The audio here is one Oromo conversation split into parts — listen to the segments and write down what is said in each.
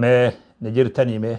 mee na jirtanii mee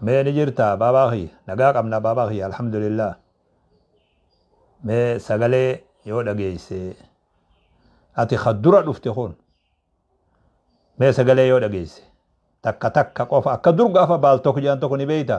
mee ni jirta baabaa kiyya nagaa qabna baabaa kiyya alhamdulillah mee sagalee yoo dhageeyse ati ka dura dhufte kun mee sagalee yoo dhageeyse takka takka qofa akka dur gaafa baaltok jedhan tokko ni beeyta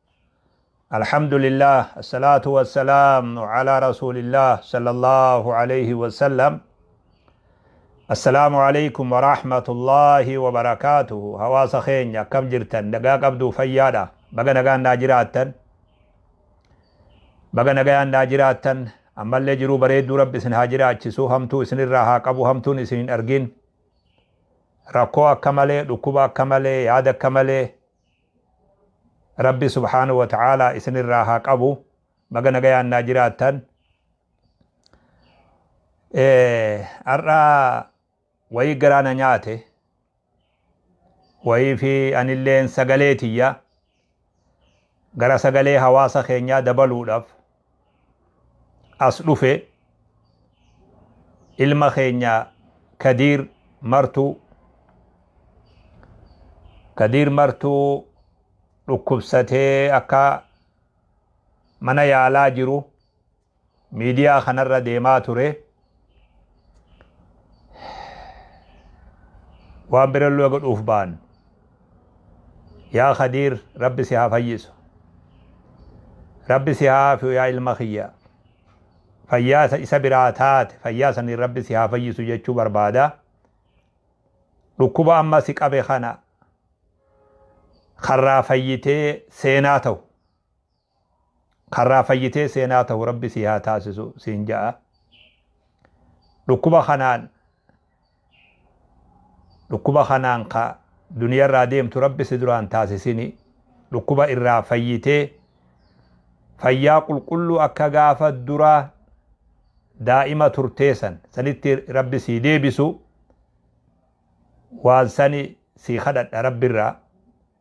Alhamdulillah Assalatu wassalam ala rasulillah sallallahu alayhi wassalam Assalamu alaykum wa rahmatullahi wa barakatuhu Hawaasa keenya akkam jirtan nagaa qabduu fayyaadha baga nagaan naa jiraattan baga nagaan naa jiraattan ammallee jiruu bareedduu rabbi isin haa jiraachisu hamtuu isinirraa haa qabu hamtuun isin hin argin rakkoo akka malee dhukkuba akka malee yaada akka malee Rabbi subhaanahu wa ta'aalaa isinirraa haa qabu baga nagayaan naa jiraattan har'a wayii garaa na nyaate wayii fi anilleen sagalee tiyya gara sagalee hawaasa keenyaa dabaluudhaaf as dhufe ilma keenya kadiir martuu kadiir martuu dhukkubsatee akka mana yaalaa jiru miidiyaa kanarra deemaa ture waan birallee godhuuf ba'an yaa kadiir rabbi si haa fayyisu rabbi si haa haafiyu yaa ilma kiyya fayyaasa isa biraa taate fayyaasaniin rabbi si haa fayyisu jechuu barbaada dhukkuba amma si qabe kana karraa fayyitee seenaa ta'u Karraa fayyitee seenaa tahu rabbi sii haa taasisu siin ja'a. Dhukkuba kanaan dhukkuba kanaan ka duniyarraa deemtu rabbi si duraan taasisini. Dhukkuba irraa fayyitee fayyaa qulqulluu akka gaafa duraa daa'ima turtee san sanitti rabbi sii deebisu waan sani sii kadhadha rabbirraa.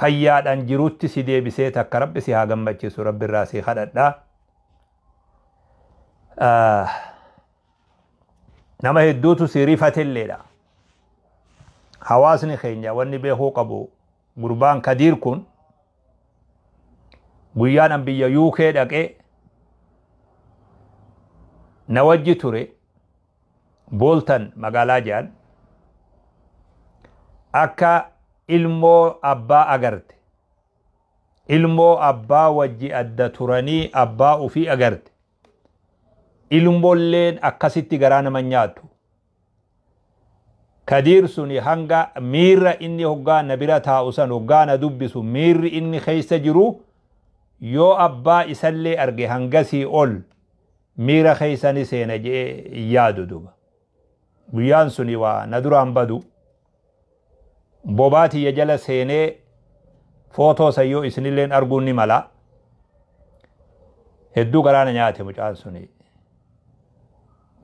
fayyaadhan jirutti si deebisee takka rabbi si haa gammachiisu rabbi irraa si kadhadha nama hedduutu si rifatelleedha hawaasni keenya wanni beekuu qabu gurbaan kadiir kun guyyaan an biyya UK dhaqee na wajji ture Booltan magaalaa jedhan akka ilmoo abbaa agarte. Ilmoo abbaa wajji adda turanii abbaa ufii agarte. Ilmolleen akkasitti garaa nama nyaatu. Kadiir suni hanga miira inni hoggaa na bira taa'u san hoggaa na dubbisu miirri inni keessa jiru yoo abbaa isallee arge hangasii ol miira keessa ni seena je'ee hin yaadu duba guyyaan suni waa na duraan badu bobaa tiyya jala seenee footoo san yoo isinilleen arguun ni mala hedduu garaana nyaate mucaan suni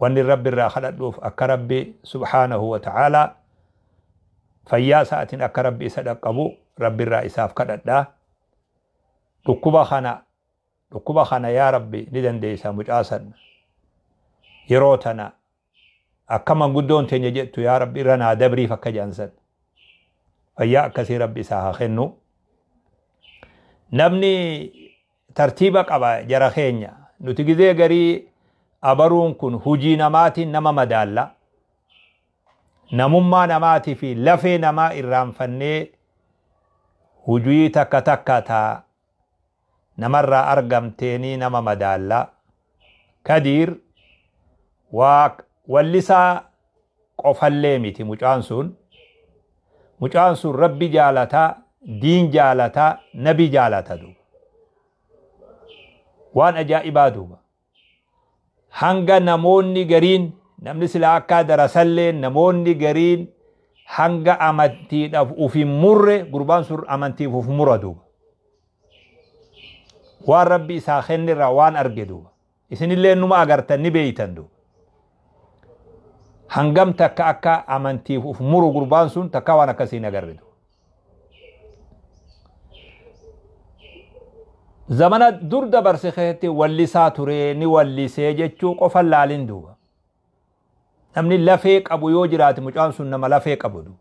wanni rabbi irraa kadhadhuuf akka rabbi subhaanahu wa ta'aalaa fayyaa isaatiin akka rabbi isa dhaqqabu rabbi irraa isaaf kadhadha dhukkuba kana Dhukkuba kana yaa rabbi ni dandeeysa mucaa san yeroo tana akka manguddoon teenya jettu yaa rabbi irra naa dabriif akka jedhan san fayyaa akkasii rabbi isaa haa kennu namni tartiiba qaba jara keenya nuti gizee garii abaruun kun hujii namaatiin nama madaalla namummaa namaatii fi lafee namaa irraanfannee hujii takka takka taa Namarraa argamteenii nama madaallaa. Kadiir waa wallisaa qofallee miti mucaan sun. Mucaan sun Rabbi jaalata, diin jaalata, nabi jaalata duuba. Waan ajaa'ibaa duuba. hanga namoonni gariin namni silaa akkaa darasallee namoonni gariin hanga amantiidhaaf uf hin murre gurbaan sun amantiif uf mura duuba waan rabbi isaa kenne irraa waan arge duuba isinillee numa agartan ni beeytan duuba hangam takka akka amantiif uf muru gurbaan sun takka waan akkasii hin agarre duuba zamana dur dabarse keessatti wallisaa turee ni wallisee jechuu qofa laalin duuba namni lafee qabu yoo jiraate mucaan sun nama lafee qabu duuba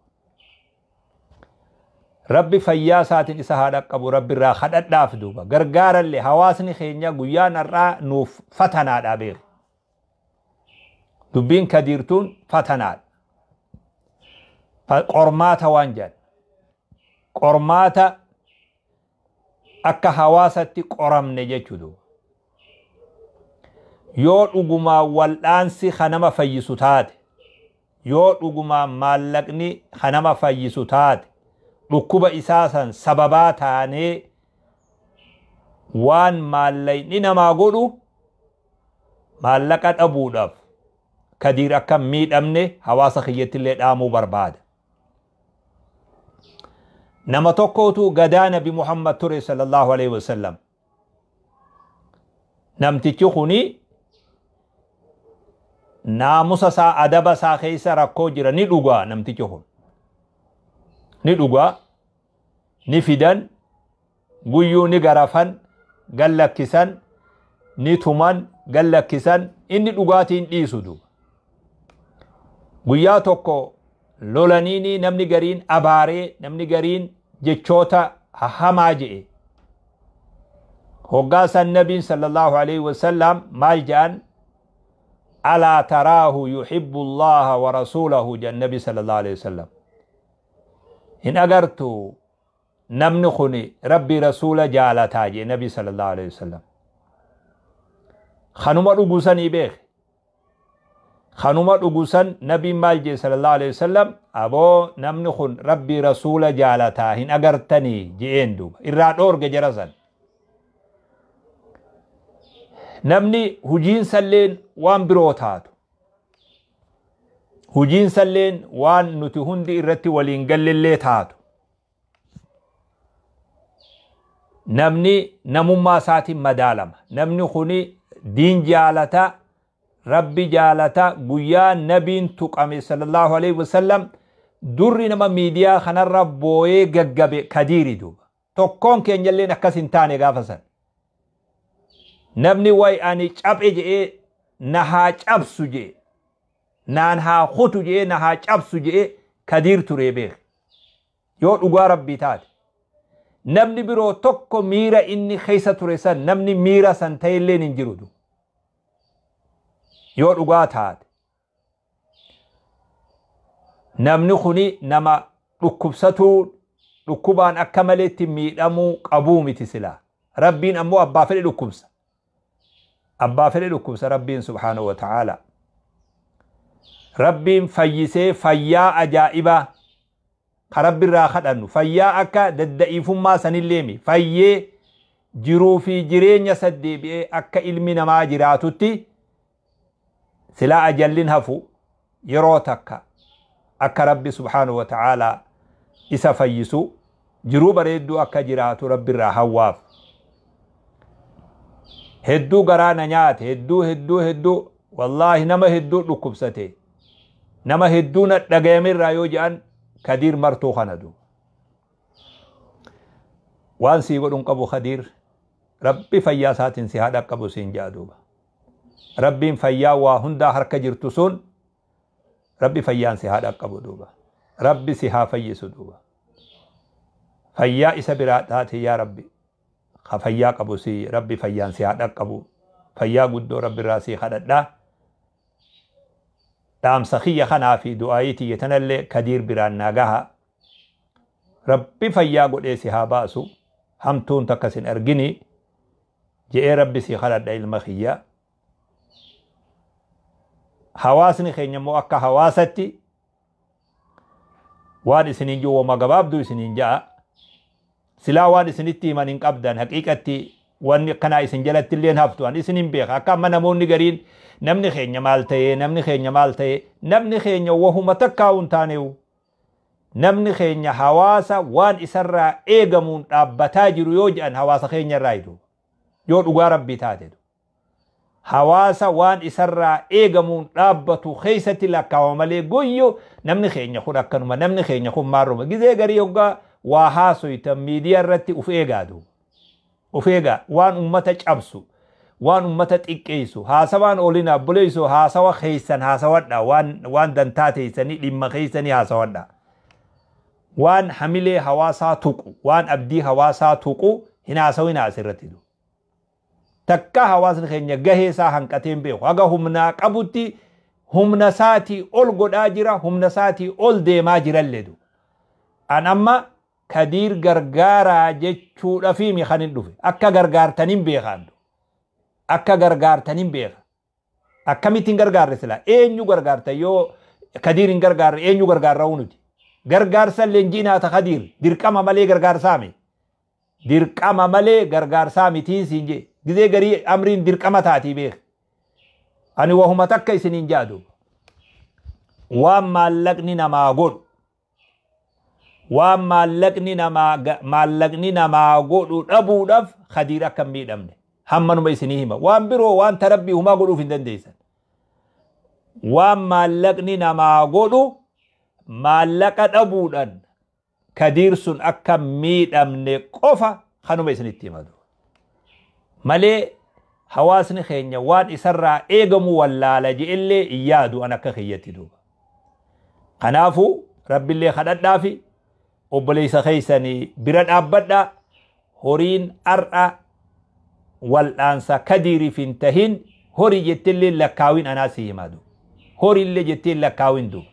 rabbi fayyaa isaatiin isa haa dhaqqabu rabbi irraa kadhadhaaf duuba gargaarallee hawaasni keenya guyyaan har'aa nuuf fatanaadhaa beeku Dubbiin Kadiir tuun fatanaadha. Qormaata waan jedhan. Qormaata akka hawaasatti qoramne jechuudha. Yoo dhugumaa wal'aansi kan nama fayyisu taate, yoo dhugumaa maallaqni kan nama fayyisu taate, dhukkuba isaa san sababaa taanee waan maallaqni namaa godhu Maallaqa dhabuudhaaf Kadiir akka hin miidhamne hawaasa kiyyatti illee dhaamuu barbaada. Nama tokkootu gadaa Nabi Muhammad ture sallallahu alaihi wasallam. Namtichi kuni naamusa isaa adaba isaa keessa rakkoo jira ni dhugaa namtichi kun. Ni dhugaa ni fidan guyyuu ni garafan gad lakkisan ni tuman gad lakkisan inni dhugaatii hin dhiisu duuba guyyaa tokko lolaniini namni gariin abaaree namni gariin jechoota hamaa je'e hoggaa san nabiin sallallahu alaihi wasallam maal je'an alaa taraahu yuhibbu allaha wa rasuulahu jedhan nabi sallallahu alaihi wasallam hin agartu namni kun rabbii rasuula jaalataa jee nabii sallallahu alaihi wasallam kanuma dhugusanii beeke kanuma dhugusan nabiin maal jee sallallahu alaihi wasallam aboo namni kun rabbii rasuula jaalataa hin agartanii je'een duuba irraa dhoorge jara san namni hujiin salleen waan biroo taatu Hujiinsalleen waan nuti hundi irratti waliin gallellee taatu. Namni namummaa isaatiin madaalama. Namni kuni diin jaalata, rabbi jaalata, guyyaa nabiin tuqame sallallahu alaihi wasallam durri nama miidiyaa kanarra booyee gaggabe kadiiri duuba. Tokkoon keenyalleen akkas hin taane gaafa san. Namni way ani caphe je'ee na haa cabsu je'e. Naan haa kutu je'ee na haa cabsu je'e kadiir turee beeki. Yoo dhugaa rabbii taate. Namni biroo tokko miira inni keessa ture san namni miira san ta'elleen hin jiru. Yoo dhugaa taate. namni kuni nama dhukkubsatuu dhukkubaan akka maleetti miidhamuu qabuu miti silaa rabbiin ammoo abbaa fedhe dhukkubsa abbaa fedhe dhukkubsa rabbiin subhaanahu wa ta'aala rabbiin fayyisee fayyaa ajaa'ibaa ka rabbirraa kadhannu fayyaa akka dadda'iifummaa sanilleemi fayyee jiruu fi jireenya saddeebi'ee akka ilmi namaa jiraatutti Silaa ajalli hin hafu yeroo takka akka Rabbi subhaanahu wa ta'aalaa isa fayyisu jiruu bareedduu akka jiraatu Rabbi irraa hawwaaf. Hedduu garaa na nyaate hedduu hedduu hedduu wallaahi nama hedduu dhukkubsate nama hedduu na dhagayame irraa yoo ja'an Kadiir martuu kana du. Waan sii godhun qabu Kadiir Rabbi fayyaa isaatiin si haa dhaqqabu siin ja'a duuba. Rabbiin fayyaa waa hundaa harka jirtu sun Rabbi fayyaan si haa dhaqqabu duuba. Rabbi si haa fayyisu duuba. Fayyaa isa biraa taate yaa Rabbi. Ka fayyaa qabu si Rabbi fayyaan si haa dhaqqabu. Fayyaa guddoo Rabbi irraa si kadhadha. Dhaamsa kiyya kanaa fi du'aayii tiyya tanallee kadiir biraan naa gaha. Rabbi fayyaa godhee si haa baasu. Hamtuun takka sin arginii. je'ee rabbi sii kadhadha ilma kiyya hawaasni keenya immoo akka hawaasatti waan isiniin jiru wama gabaabduu isiniin ja'a silaa waan isinitti himan hin qabdan haqiiqatti wanni akkanaa isin jalatti illee haftu an isin hin beeka akka amma namoonni gariin namni keenya maal ta'ee namni keenya maal ta'ee namni keenya wahuma takkaa hin taaneewu Namni keenya hawaasa waan isarraa eegamuun dhaabbataa jiru yoo jedhan hawaasa keenyarraayi duuba. Yoo dhugaa Rabbii taate du. Hawaasa waan isarraa eegamuun dhaabbatu keessatti lakkaawama malee guyyu namni keenya kun akkanuma namni keenya kun maarruma gizee garii hoggaa waa haasoytan miidiyaa irratti uf eegaa duuba. Of eegaa. Waan ummata cabsu, waan ummata xiqqeessu, haasawaan oolinaa obboleessoo haasawa keessan haasawadhaa, waan, waan dantaa teessanii, dhimma keessanii haasawadhaa. Waan hamilee hawaasaa tuqu, waan abdii hawaasaa tuqu hin haasawinaa as irratti du. Takkaa hawaasni keenya gahee isaa hanqatee hin beeku. Haga humnaa qabutti humna isaatii ol godhaa jira, humna isaatii ol deemaa jirallee du. An amma Kadiir gargaaraa jechuudhafiimi kanin dhufe. Akka gargaartanin beeka andu. Akka gargaartanin beeka. Akkamitti hin gargaarre sila? Eenyu gargaarta yoo Kadiir hin gargaarre eenyu gargaarra'uu nuti? Gargaarsa leenjiinaa ta Kadiir dirqama malee gargaarsaami. Dirqama malee gargaarsaa mitiin siin jee. Gizee garii amriin dirqama taatii beeka. Ani wahuma takka isiniin jaadu. Waan maallaqni namaa godhu. waan maallaqni namaa ga- maallaqni namaa godhu dhabuudhaaf khadiir akka hin miidhamne hammanuma isinii hima waan biroo waan tarabbii humaa godhuuf hin dandeessan waan maallaqni namaa godhu maallaqa dhabuudhaan kadiir sun akka hin miidhamne qofa kanuma isinitti hima malee hawaasni keenya waan isarraa eegamu wallaala je'ellee hin yaadu an akka kiyyatti duuba. Kanaafuu rabbillee kadhadhaafi obboleessa keessanii bira dhaabbadha horiin har'a wal'aansa kadiiriif hin tahin horii jettillee lakkaawin anaa si himaa duuba. Horiillee jettiin lakkaawin duuba.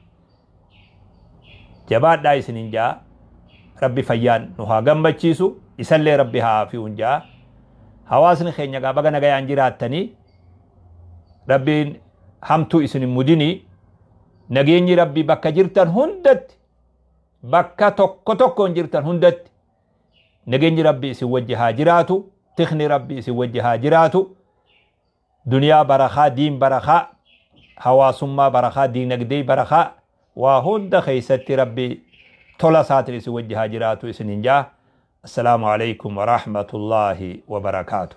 Jabaadhaa isinin ja'a. Rabbi fayyaan nu haa gammachiisu. Isallee Rabbi haa aafiyuun ja'a. Hawaasni keenya egaa baga nagayaan jiraattanii. Rabbiin hamtuu isin hin mudini. Nageenyi Rabbi bakka jirtan hundatti bakka tokko tokkoon jirtan hundatti nageenyi Rabbi isin wajji haa jiraatu. Tikni Rabbi isin wajji haa jiraatu. Duniyaa barakaa, diin barakaa, hawaasummaa barakaa, diinagdee barakaa, waa hunda keessatti Rabbi tola isaatiin isin wajji haa jiraatu isiniin jaa. Assalaamu alaikum wa rahmatullaahi wa barakaatu.